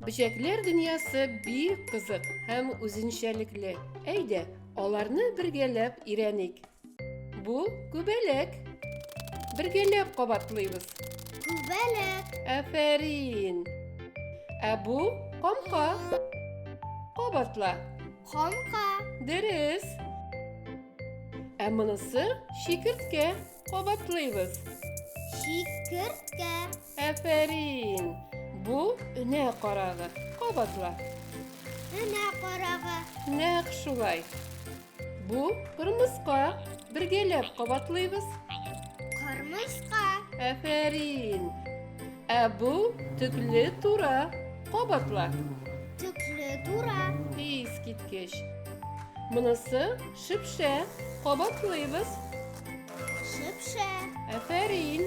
Бөҗәкләр дөньясы бик кызык һәм үзенчәлекле. Әйдә, аларны бергәләп өйрәник. Бу күбәләк. Бергәләп кабатлыйбыз. Күбәләк. Афәрин. Ә бу камка. Кабатла. Камка. Дөрес. Ә монысы шикерткә. Кабатлыйбыз. Шикерткә. Афәрин. Бу өнә карагы. Кабатла. Өнә карагы. Нәкъ шулай. Бу кырмыска. Бергәләп кабатлыйбыз. Кырмыска. Әфәрин. Ә бу төкле тура. Кабатла. Төкле тура. Ис киткеч. Монысы шипшә. Кабатлыйбыз. Шипшә. Әфәрин.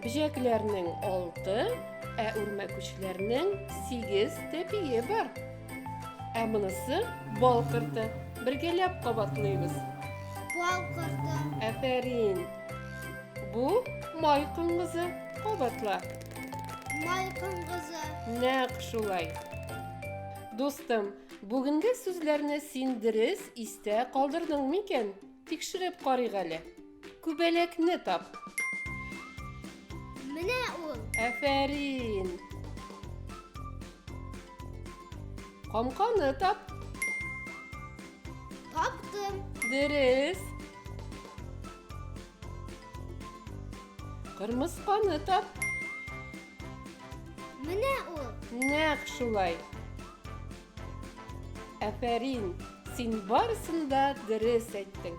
Бөҗәкләрнең алты, ә үрмәкүчләрнең сигез тәпие бар. Ә монысы бал корты. Бергәләп кабатлыйбыз. Бал корты. Әфәрин. Бу май коңгызы. Кабатла. Май коңгызы. Нәкъ шулай. Дустым, бүгенге сүзләрне син дөрес истә калдырдың микән? Тикшереп карыйк әле. Күбәләкне тап. Менә ул. Әфәрин. Камканы тап. Таптым. Дөрес. Кырмысканы тап. Менә ул. Нәкъ шулай. Әфәрин, син барысын да дөрес әйттең.